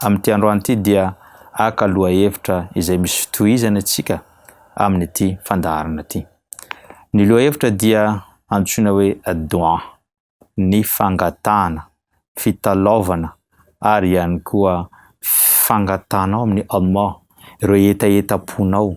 Amin'ity androany ity dia haka lohahevitra izay misy fitohizany antsika amin'ity fandaharana ity. Ny lohahevitra dia antsoina hoe Dua, ny fangatahana, fitalaovana ary ihany koa fangatahanao amin'i Allah ireo hetahetam-ponao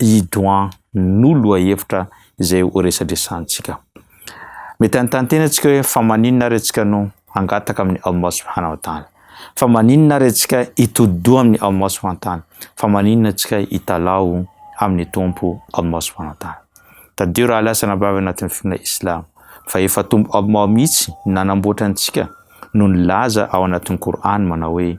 i Doan no lohahevitra izay ho resadresantsika. Mety hanontany tena antsika hoe fa maninona ary antsika no hangataka amin'ny Allah subhanahu wa ta'ala? Fa maninona ary antsika hitodi-doha amin'ny Allah subhanahu wa ta'ala? Fa maninona antsika hitalaho amin'ny Tompo Allah subhanahu wa ta'ala? Tadidio raha lasa nabavy anatin'ny finoana Islam fa efa Tompo Allah mihitsy nanamboatra antsika no nilaza ao anatin'ny Qur'an manao hoe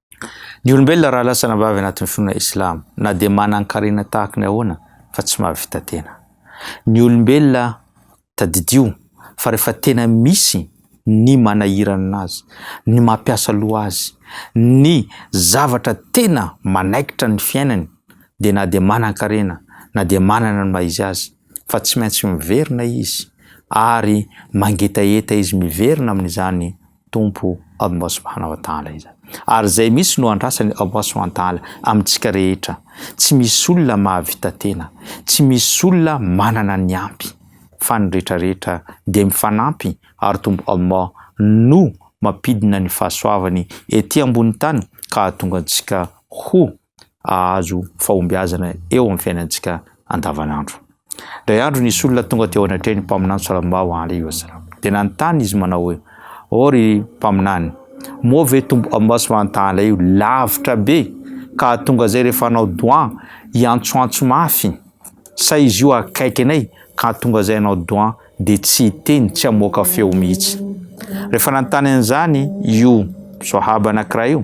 Ny olombelona raha lasa anabavy anatin'ny finoana islam, na dia manan-karena tahaka ny ahoana fa tsy mahavita tena. Ny olombelona tadidio fa rehefa tena misy ny manahiranana azy, ny mampiasa loha azy, ny zavatra tena manaikitra ny fiainany, dia na dia manan-karena, na dia manana ny maha-izy azy, fa tsy maintsy miverina izy, ary mangetaheta izy miverina amin'izany, Tompo Allah subhanahu wa ta'ala izany. Ary izay mihitsy no andrasan'i Allah subhanahu wa ta'ala amintsika rehetra. Tsy misy olona mahavita tena, tsy misy olona manana ny ampy, fa ny rehetra rehetra dia mifanampy ary Tompo Allah no mampidina ny fahasoavany ety ambony tany ka hahatonga antsika ho hahazo fahombiazana eo amin'ny fiainantsika andavanandro. Indray andro nisy olona tonga teo anatrehan'ny mpaminany Salambaho Aly Wasalam. Dia nanontany izy manao hoe, ô ry mpaminany, moa ve tombo Amasy Vantaala io lavitra be ka hahatonga izay rehefa hanao doa hiantsoantso mafy sa izy io akaiky anay ka hahatonga izay hanao doa dia tsy hiteny tsy hamoaka feo mihitsy. Rehefa nanontany an'izany io soahaba anankiray io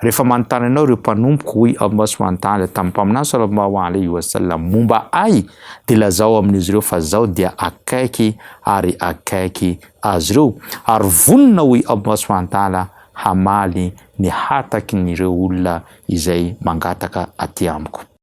Rehefa manontany anao ireo mpanompoko, hoy Allah subhanahu wa ta'ala tamin'ny Mpaminany sallallahu alayhi wa sallam momba Ahy, dia lazao amin'izy ireo fa Izaho dia akaiky ary akaiky azy ireo. Ary vonona, hoy Allah subhanahu wa ta'ala, hamaly ny hataky ny ireo olona izay mangataka aty Amiko.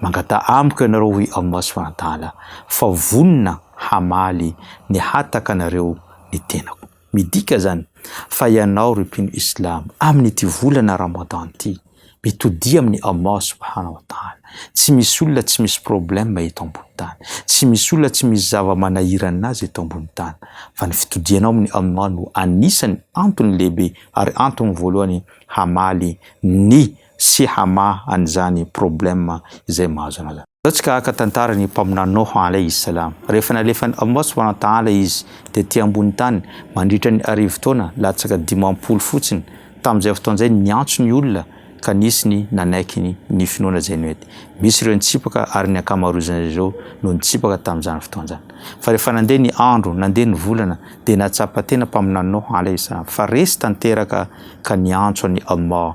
Mangataha amiko ianareo, hoy aho Masoandala, fa ho vonona hamaly ny hatakanareo ny tenako. Midika izany fa ianao ry mpino Islam, amin'ity volana Ramadan ity, mitodia amin'i Allah Subhana wa Ta'ala. Tsy misy olona tsy misy problème eto ambony tany. Tsy misy olona tsy misy zava-manahirana azy eto ambony tany. Fa ny fitodianao amin'i Allah no anisan'ny antony lehibe ary antony voalohany hamaly ny sy hamaha an'izany problème izay mahazo anao izany. Izao tsika haka tantara ny mpaminany Noha alaihi salaam. Rehefa nalefan'i Allah subhanahu wa ta'ala izy tety ambony tany mandritra ny arivo taona latsaka dimampolo fotsiny, tamin'izay fotoana izay niantso ny olona ka nisy ny nanaiky ny finoana izay nety. Misy ireo nitsipaka ary ny ankamaroizan'izy ireo no nitsipaka tamin'izany fotoana izany. Fa rehefa nandeha ny andro, nandeha ny volana dia nahatsapa tena mpaminany Noha alaihi salaam fa resy tanteraka ka niantso an'i Allah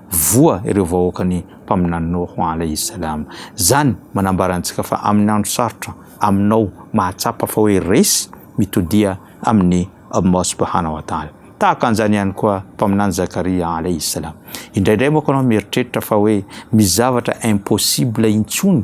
Voa ireo vahoakan'ny mpaminaninao ho an' Alaihi Salaam. Izany manambara antsika fa amin'ny andro sarotra aminao mahatsapa fa hoe resy mitodia amin'i Allah Subhanahu wa Ta'ala. Tahaka an'izany ihany koa mpaminany Zakaria Alaihi Salaam. Indraindray moka ianao mieritreritra fa hoe misy zavatra impossible intsony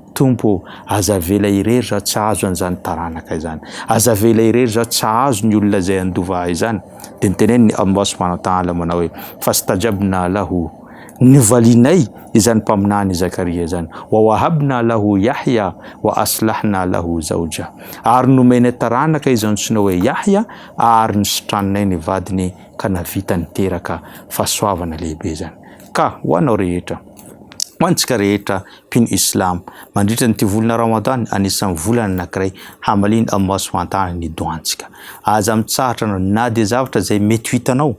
Tompo ô, aza avela irery zaho tsy hahazo an'izany taranaka izany. Aza avela irery zaho tsy hahazo ny olona izay handova ahy izany. Dia niteneny ny Allah subhanahu wa ta'ala manao hoe, Fastajabna lahu, novalianay izany mpaminany Zakaria izany, wa wahabna lahu Yahya wa aslahna lahu zawjah, ary nomenay taranaka izy antsoina hoe Yahya ary nositraninay ny vadiny ka navita niteraka. Fahasoavana lehibe izany ka ho anao rehetra, ho antsika rehetra mpino Islam. Mandritra an'ity volana Ramadan, anisan'ny volana anankiray hamaliana Allah subhanahu wa ta'ala ny dohantsika. Aza mitsahatra anao na dia zavatra izay mety ho hitanao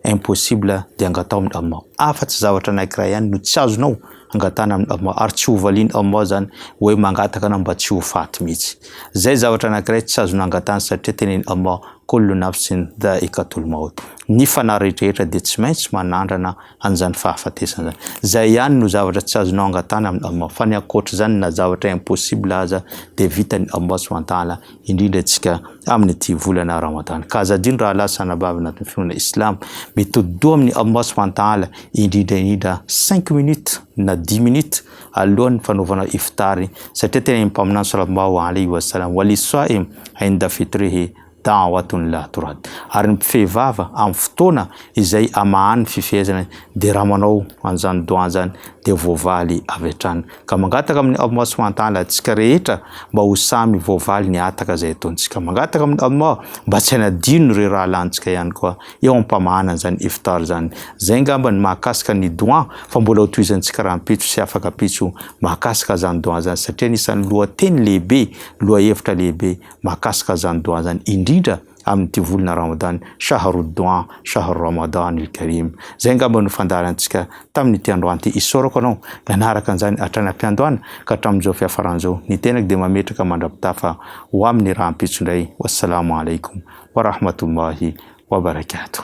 impossible dia angatao amin'i Allah. Afa-tsy zavatra anankiray ihany no tsy azonao angatana amin'i Allah ary tsy hovalian'i Allah izany hoe mangataka anao mba tsy ho faty mihitsy. Izay zavatra anankiray tsy azonao angatana satria tenenin'i Allah, Kullu nafsin dha'iqatul maut. Ny fanahy rehetrarehetra dia tsy maintsy manandrana an'izany fahafatesana izany. Izay ihany no zavatra tsy azonao angatahana amin'i Allah. Fa ny ankoatr'izany na zavatra impossible aza dia vitan'i Allah subhanahu wa ta'ala, indrindra isika amin'ity volana Ramadany. Ka aza adino rahalahy sy anabavy anatin'ny finoana Islamo, mitodi-doha amin'i Allah subhanahu wa ta'ala indrindra indrindra cinq minutes na dix minutes alohan'ny fanaovanao iftar, satria tena ny Mpaminany sallallahu alaihi wa sallam, Wali-swaim inda fitrihi, Da'watun-l-Aturad, ary ny mpifehy vava amin'ny fotoana izay amahany ny fifehezana dia raha manao an'izany do'a izany dia voavaly avy hatrany. Ka mangataka amin'i Allah subhanahu wa ta'ala antsika rehetra mba ho samy voavaly ny hataka izay ataontsika. Mangataka amin'i Allah mba tsy hanadino ireo rahalahintsika ihany koa eo am-pamahana an'izany iftar izany. Izay angamba ny mahakasika ny do'a fa mbola ho tohizantsika rahampitso sy afaka pitso mahakasika izany do'a izany satria anisan'ny lohateny lehibe, lohahevitra lehibe, mahakasika zany doha zany indrindra amin'ity volana Ramadan Shahrud doha Shahr Ramadan il Karim zay angamba no fandaharantsika tamin'ity androany ity isaorako anao nanaraka an'izany hatrany am-piandohana ka hatramin'izao fiafaran'izao ny tenako dia mametraka mandra-pitafa ho amin'ny rahampitso indray wassalamu alaikum wa rahmatullahi wa barakatuh